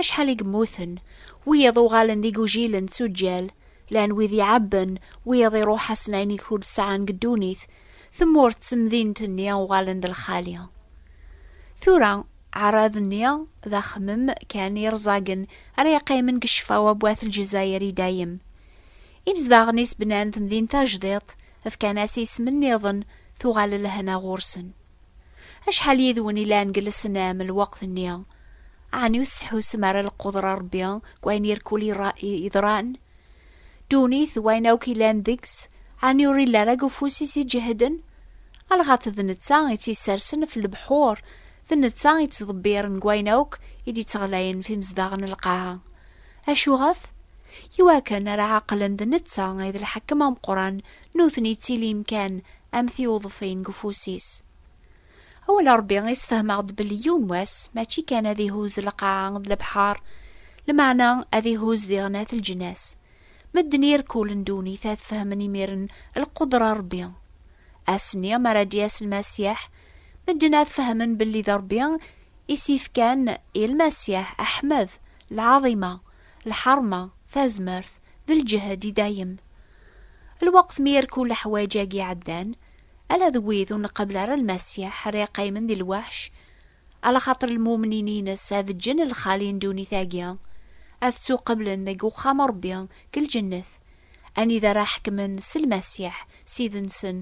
Acḥal i yemmuten, wiyaḍ uɣalen d igujilen d tuǧǧal, llan wid iɛebben, wiyaḍ iruḥ-asen ayen i ur d-sɛan deg ddunit, tmurt d temdint-nni uɣalen d lxali. Tura, aɛrab-nni d axemmem kan irẓagen ara yeqqimen deg ccfa wa n wat Lezzayer i dayem. Imezdaɣen-is bnan temdint tajdiṭ, fkan-as isem nniḍen, tuɣal lehna ɣur-sen. Acḥal yid-wen ilan deg lesnam lweqt-nni? Ɛni ur tettḥusem ara lqudra n Ṛebbi deg wayen irkul yeḍran? Ddunit d wayen akk ilan deg-s, ɛni ur illa ara deg ufus-is iǧehden? Alɣat d netta i tt-issersen ɣef lebḥur, d netta i tt-ḍebbiren deg wayen akk i d-ittɣlayen ɣef imezdaɣ n lqaɛa. Acuɣef? Iwakken ara ɛeqlen d netta i d lḥakem ameqqran Nutni ttilin kan am tiwḍfin deg ufus-is. Awal Ṛebbi i sfehmeɣ-d belli yiwen wass mačči kan ad ihuzz lqaɛa d lebḥeṛ, lmeɛna ad ihuzz diɣen at leǧnas. Medden irkulen ddunit ad fehmen imiren lqudra n Ṛebbi. Ass-nni mi ara d-yas Lmasiḥ, medden ad fehmen belli d Ṛebbi i s-ifkan i Lmasiḥ, Aḥmed, lɛaḍima, lḥeṛma, tazmert, d lǧehd i dayem. Lweqt mi irku leḥwaǧ-agi iɛeddan, ala d wid ur nqebbel ara Lmasiḥ ara yeqqimen di lweḥc, alaxaṭer lmumnin-ines ad ǧǧen lxali n ddunit-agi, ad ttuqeblen deg uxxam n Ṛebbi deg lǧennet, anida ara ḥekmen s Lmasiḥ, Ssid-nsen,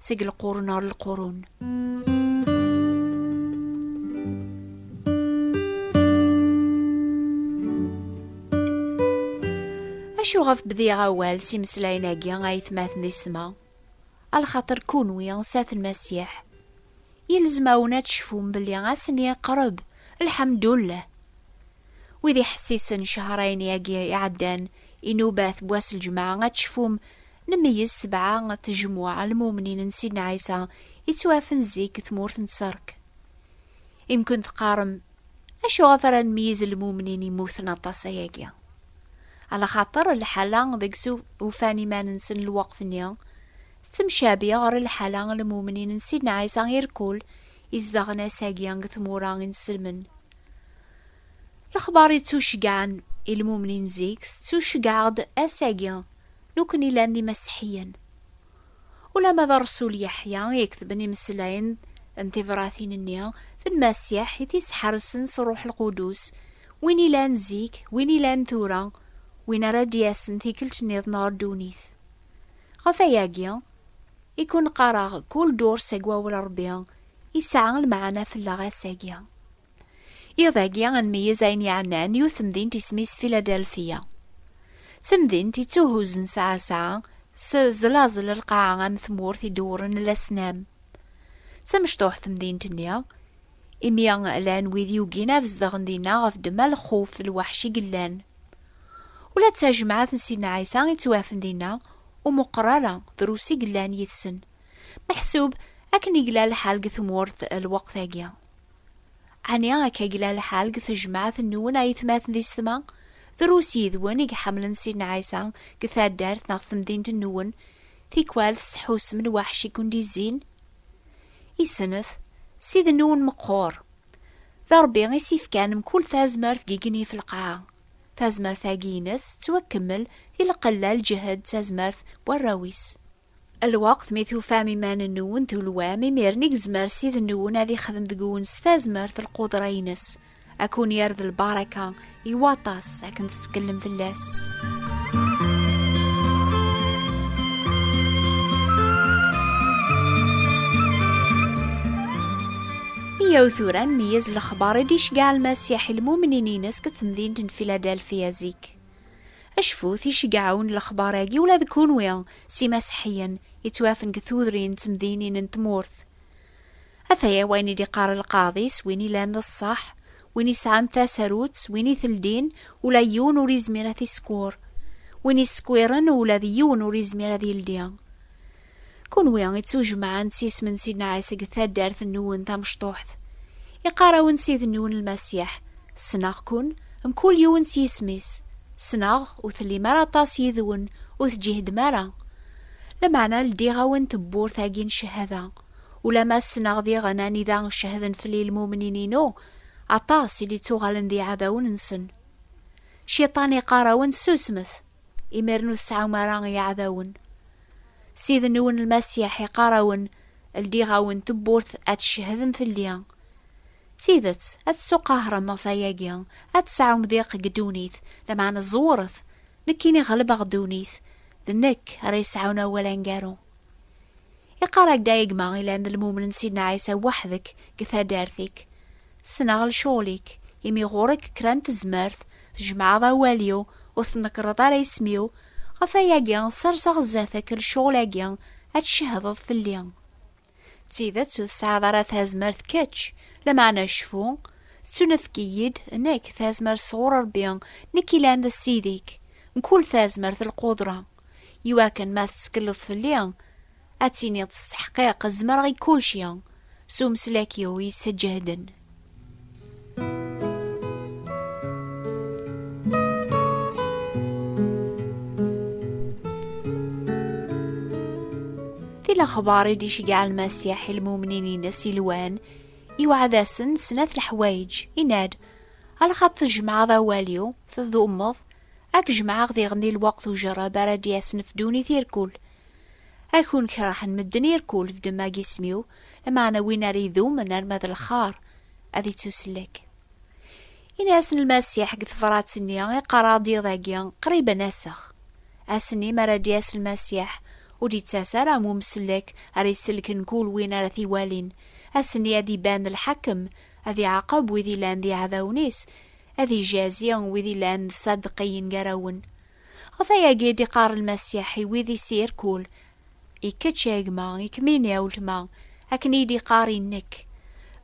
seg lqurun ɣer lqurun. acu ɣef bdiɣ awal s imeslayen-agi ay tmaten isma a lxaṭer kunwi sat n masiḥ yelzem-awen ad tecfum belli asen yeqreb lḥamdullah wid iḥessisen cehrayen-agi iɛeddan inubat n wass ljemɛa ad tecfum Nmeyyez sebɛa n tejmuɛ n lmumnin n Sidna Ɛisa i ttwaɛfen zik deg tmurt n Tserk. Imkun teqqarem, Acu ɣef ara nmeyyez lmumnin yemmuten aṭas ayagi? Ala xaṭer lḥala deg s ufan iman-nsen lweqt-nni tettemcabi ɣer lḥala n lmumnin n Sidna Ɛisa irkul izedɣen ass-agi deg tmura i nselmen. Lexbar yettuceggɛen i lmumnin zik tettuceggɛeɣ-d ass-agi. Nukni llan d imaseḥiyen. Ulama d Rrsul Yeḥya i iketben imeslayen n tibratin-nni d Lmasiḥ i t-isḥersen s Rruḥ Lqudus, win ilan zik, win ilan tura, win ara d-yasen tikkelt nniḍen ɣer ddunit. Ɣef ayagi i ken-qqareɣ kul durs seg Wawal Rebbi, isɛa lmeɛna fell-aɣ ass-agi. Iḍ-agi ad nmeyyez ayen yeɛnan yiwet temdint isem-is Philadelphia. D temdint ittuhuzzen sɛa-sɛa s zlaẓel lqaɛa am tmurt idewwren lasnam. D tamecṭuḥt temdint-nni, imi llan wid yugin ad zedɣen dinna ɣef ddemma lxuf d lweḥc i yellan. Ula d tajemɛet n Sidna Ɛisa ittwafen dinna ur meqqer ara drus i yellan yid-sen, meḥsub akken i yella lḥal deg tmurt lweqt-agi. Ɛni akka yella lḥal deg tejmaɛt nwen ay tmaten di setma? Drus yid-wen i iḥemmlen Sidna Ɛisa deg taddart neɣ temdint nwen, tikwal tesḥusem lwaḥc i ken-d-izzin? I snat, Ssid nwen meqqur. D Rebbi i s-ifkan mkul tazmert deg yigenni ɣef lqaɛa. Tazmert-agi-ines tettwakemmel di lqella, lǧehd d tazmert n warraw-is. Lweqt mi tufam iman-nwen tulwam, imiren i yezmer Sid-nwen ad ixdem deg-wen s tazmert lqudra-ines, ad kun-yerr d lbaraka i waṭas akken tettkellem fell-as. Iyaw tura ad nmeyyez lexbar i d-iceggeɛ Lmasiḥ i lmumnin-ines deg temdint n Filadelfia zik. Acfut, iceggeɛun lexbar-agi ula d kunwi, s imaseḥiyen, yettwafen deg tudrin d temdinin n tmurt. Ataya wayen i d-iqqar lqaḍi s win ilan d ṣṣeḥ, win isɛan tasarut s win iteldin ula yiwen ur izmir ad t-isekwer, win isekwiren ula d yiwen ur izmir ad yeldi. Kunwi i ttujemɛen s yisem n Sidna Ɛisa deg taddart-nwen tamecṭuḥt, iqqar-awen Sidni-wen Lmasiḥ, ssneɣ-ken, mkul yiwen s yisem-is, ssneɣ ur tellim ara aṭas yid-wen, ur tǧihdem ara. Lameɛna ldiɣ-awen tewwurt-agi n cchada, ulamma ssneɣ diɣen anida cehden fell-i lmumnin-inu, aṭas i d-ittuɣalen d iɛdawen-nsen. Cciṭan iqqar-awen susmet! imir-n ur tesɛum ara iɛdawen. Ssid-nwen Lmasiḥ iqqar-awen, Ldiɣ-awen tewwurt ad tcehhedem fell-i. D tidet, ad tettuqahrem ɣef wayagi, ad tesɛum diq deg ddunit, lameɛna ẓewret, nekkini ɣelbeɣ ddunit, d nekk ara yesɛun awal aneggaru. Iqqar-ak-d a gma ilan d lmummen n Sidna Ɛisa weḥd-k deg taddart-ik. Ssneɣ lecɣal-ik, imi ɣur-k kra n tezmert, tjemɛeḍ awal-iw, ur tnekreḍ ara isem-iw, ɣef wayagi serseɣ sdat-k lecɣal-agi, ad tcehdeḍ fell-i. D tidet ur tesɛiḍ ara tazmert kečč, lameɛna cfu, tettunefk-iyi-d nekk tazmert sɣur Ṛebbi, nekk yellan d Ssid-ik, mkul tazmert d lqudra. Iwakken ma tettekleḍ fell-i, ad tiniḍ s teḥqiq zemreɣ i kulci, s umeslak-iw yessejehden. lexbar i d-iceggeɛ Lmasiḥ i lmumnin-ines yelwan, iweɛɛed-asen snat leḥwayeǧ, yenna-d, Alxaṭ tjemɛeḍ awal-iw, tdumeḍ, Ad k-jemɛeɣ diɣen di lweqt ujerreb ara d-yesnefdun i tirkul. Ad kun-kerhen medden irkul f demma n yisem-iw, lameɛna win ara idumen arma d lxar, ad ittusellek. Ini-asen Lmasiḥ deg tebṛat-nni i qqareɣ-d iḍ-agi, qrib ad n-aseɣ. Ass-nni mi ara d-yas Lmasiḥ, ur d-ittas ara am umsellek ara isellken kul win ara t-iwalin, ass-nni ad iban lḥakem, ad iɛaqeb wid yellan d iɛdawen-is, Ad ijazi wid illan d saddeqi yengarawen. Ɣef ayagi i d-iqqar Lmasiḥ i wid i s-irkul, I kečč a gma, i kemmini a weltma, akken i d-iqqar i nekk,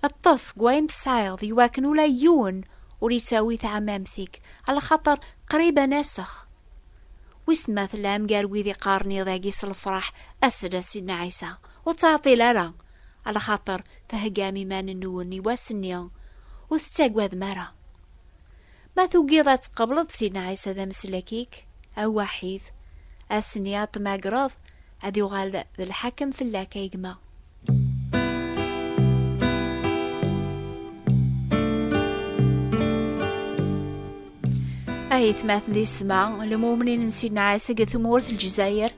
Ṭṭef g wayen tesɛiḍ i wakken ula yiwen ur ittawi taɛmamt-ik, alaxaṭer qrib a nasex. Wissen ma tellam gar wid iqqaren iḍ-agi s lefraḥ, As-d a Sidna Ɛisa, ur ttɛeṭṭil ara, alaxaṭer Theggam iman-nwen i wass-nni, ur tettaggadem ara. Ma tugiḍ ad tqableḍ Sidna Ɛisa d ameslak-ik awwaḥid, ass-nni ad t-tmagreḍ, ad yuɣal d lḥakem fell-ak, ay gma. Ay tmaten di sma, lemumnin n Sidna Ɛisa deg tmurt Lezzayer,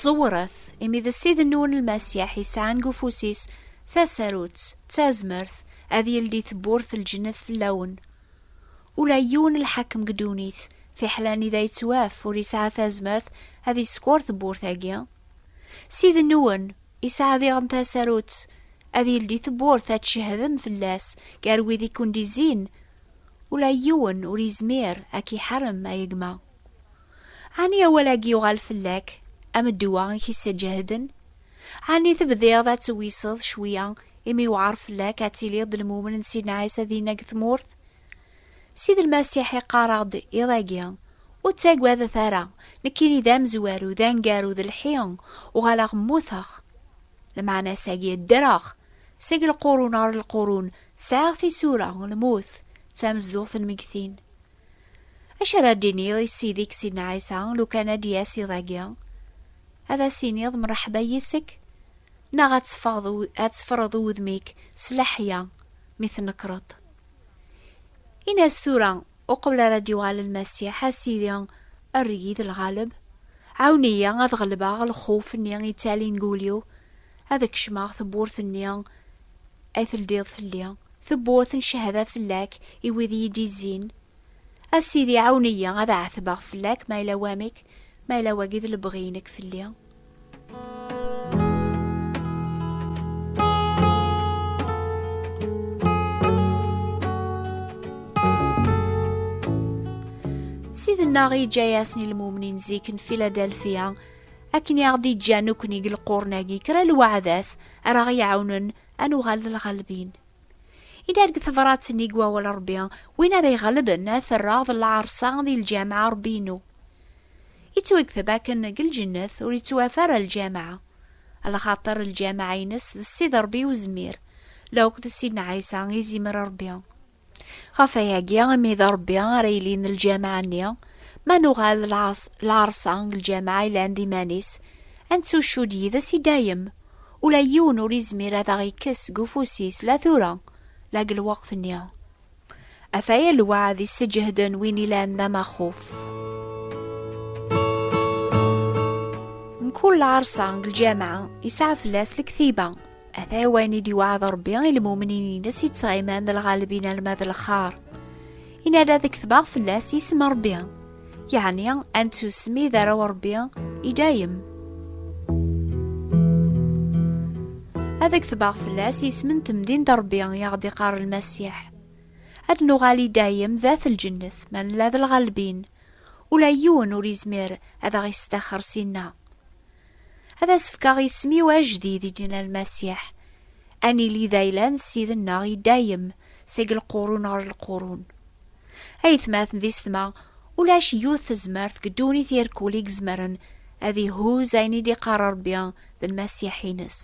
ẓewret! Tafyirt, imi d Ssid-nwen Lmasiḥ yesɛan deg ufus-is tasarut d tazmert ad yeldi tewwurt n lǧennet fell-awen. Ula i yiwen lḥakem deg ddunit, fiḥel anida yettwaf, ur yesɛa tazmert ad yeskeṛ tewwurt-agi. Ssid-nwen yesɛa diɣen tasarut ad yeldi tewwurt, ad tcehdem fell-as gar wid i ken-d-izzin, ula i yiwen ur yezmir ad k-iḥarem, a gma. Ɛni awal-agi yuɣal fell-ak am ddwa i k-isseǧehden? Ɛni tebdiḍ ad tewiseḍ cwiya imi yewɛer fell-ak ad tiliḍ d lmumen n Sidna Ɛisa dinna deg tmurt? Sidi Lmasiḥ iqqar-aɣ-d iḍ-agi, Ur ttagadet ara, nekkini d amezwaru, d aneggaru, d lḥi, uɣaleɣ mmuteɣ. Lmeɛna-s-agi, ddreɣ! Seg lqurun ɣer lqurun, sɛiɣ tisura, lmut, d tamezduɣt n lmegtin. Acu ara d-iniḍ i Ssid-ik Sidna Ɛisa lukan ad d-yas iḍ-agi? Ad as-iniḍ mṛeḥba yis-k? Neɣ ad teffeɣeḍ ad teffreḍ udem-ik s leḥya mi tnekkreḍ? Ini-as tura uqbel ara d-yuɣal Lmasiḥ, A Sidi, err-iyi d lɣaleb. Ɛawen-iyi ad ɣelbeɣ lxuf-nni yettalin deg wul-iw, ad kecmeɣ tewwurt-nni Ay teldiḍ fell-i, tewwurt n ccehada fell-ak i wid i yi-d-izzin. A Sidi, ɛawen-iyi ad ɛetbeɣ fell-ak ma yella wamek, ma yella wagi d lebɣi-inek fell-i. Sidna i yeǧǧa-yasen i lmumnin zik n Filadelfya akken i aɣ-d-iǧǧa nekkni deg lqurn-agi kra lweɛdat ara ɣ-iɛawnen ad nuɣal d lɣalbin. Idar deg tebṛat-nni deg wawal Ṛebbi, win ara iɣelben ad t-rreɣ d lɛerṣa di lǧameɛ Ṛebbi-inu. Ittwagteb akken deg lǧennet ur ittwaf ara lǧameɛ, lxaṭer lǧameɛ-ines d Ssid Ṛebbi Uzemmir, la akk d Ssidna Ɛisa, izimer Ṛebbi. Ɣef wayagi, imi d Ṛebbi ara yilin lǧameɛ-nni, ma nuɣal d lɛerṣa n lǧameɛ yellan d iman-is, ad nettucud yid-s i dayem. Ula yiwen ur yezmir ad aɣ-yekkes seg ufus-is la tura, la deg lweqt-nni. Ataya lweɛd yesseǧehden win ilan d amaxuf. Mkul lɛerṣa n lǧameɛ yesɛa fell-as lektiba. Ata wayen i d-iweɛɛed Ṛebbi i lmumnin-ines yettɣiman d lɣalbin alma d lxaṛ. Yenna-d ad ketbeɣ fell-as isem n Ṛebbi, yeɛni ad nettusmi d arraw n Ṛebbi i dayem. Ad ketbeɣ fell-as isem n temdint n Ṛebbi i aɣ-d-iqqar Lmasiḥ. Ad nuɣal i dayem d at lǧennet ma nella d lɣalbin. Ula yiwen ur yezmir ad aɣ-yestaxer syenna. Ad as-fkeɣ isem-iw ajdid i d-yenna Lmasiḥ. Ad nili d ayla-n Ssid-nneɣ i dayem, seg lqurun ɣer lqurun. Aytmaten di setma, ulac yiwet tezmert deg ddunit irkul i izemren ad ihuz ayen i d-iqqar Rebbi d Lmasiḥ-ines.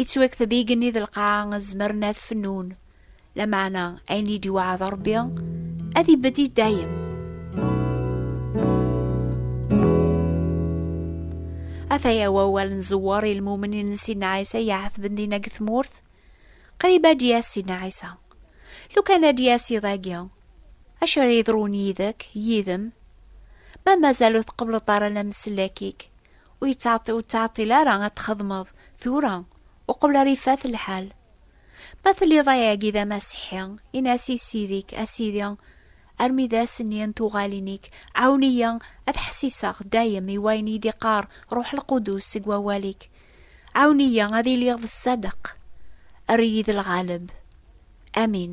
Ittwakteb igenni d lqaɛa zemren ad fennun, Lameɛna ayen i d-iweɛɛed Ṛebbi ad ibedd i dayem. Ataya wawal n Ẓewwer i lmumnin n Sidna Ɛisa iɛetben dinna deg tmurt. Qrib ad d-yas Sidna Ɛisa. Lukan ad d-yas iḍ-agi, acu ara yeḍrun yid-k, yid-m? Ma mazal ur tqebbleḍ ara lamsellak-ik, ur yettɛeṭṭil ara ad txedmeḍ tura, uqbel ara ifat lḥal. Ma telliḍ ayagi d amasiḥi, in-as i Ssid-ik, a Sidi, armi d ass-nni n tuɣalin-ik, ɛawen-iyi ad ḥessiseɣ dayem i wayen i d-iqqar Ṛuḥ Lqudus seg wawal-ik. Ɛawen-iyi ad iliɣ d ṣṣadeq. Err-iyi d lɣaleb. Amin.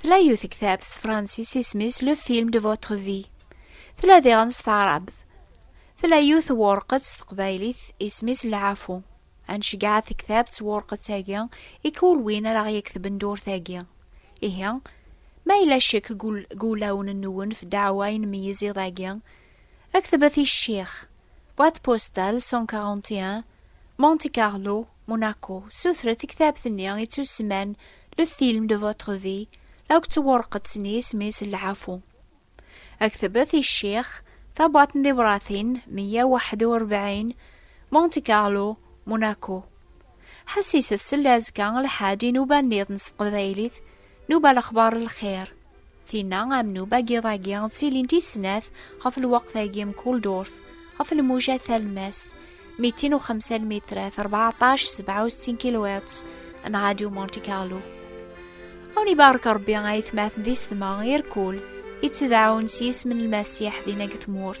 Tla yiwet ktab s tefransist isem-is Le Film de Votre Vie. Tla diɣen s taɛrabt. Tla yiwet wurqet s teqbaylit isem-is Lɛafu. Ad nceggeɛ tektabt s wurqet-agi i kul win ara ɣ-yektben ddurt-agi. Ihi, ma yella ccek deg wulawen-nwen ɣef ddeɛwa i nmeyyez iḍ-agi, ktbet i ccix. Boîte postale 141, Monte Carlo, Monaco. Sutret tektabt-nni i tt-useman Le film de votre vie, la akk tewurqet-nni isem-is Lɛafu. Aktebet i ccix, tabwaṭ n tibratin 141, Monte Carlo, Monaco. Ḥassiset sella azekka lḥaǧ inuba-nniḍen s teqbaylit, nuba lexbar lxir. Tinna am nuba n yiḍ-agi ttilint i snat ɣef lweqt-agi mkul durt, ɣef lmuja talemmast, mitin u xemsa lmitrat, rbeɛṭac sebɛa u settin kilowatts, n Radio Monte Carlo. Awen ibarek Rebbi ayetmaten di setma, irkul, ittedɛun s yisem n Lmasiḥ dinna deg tmurt.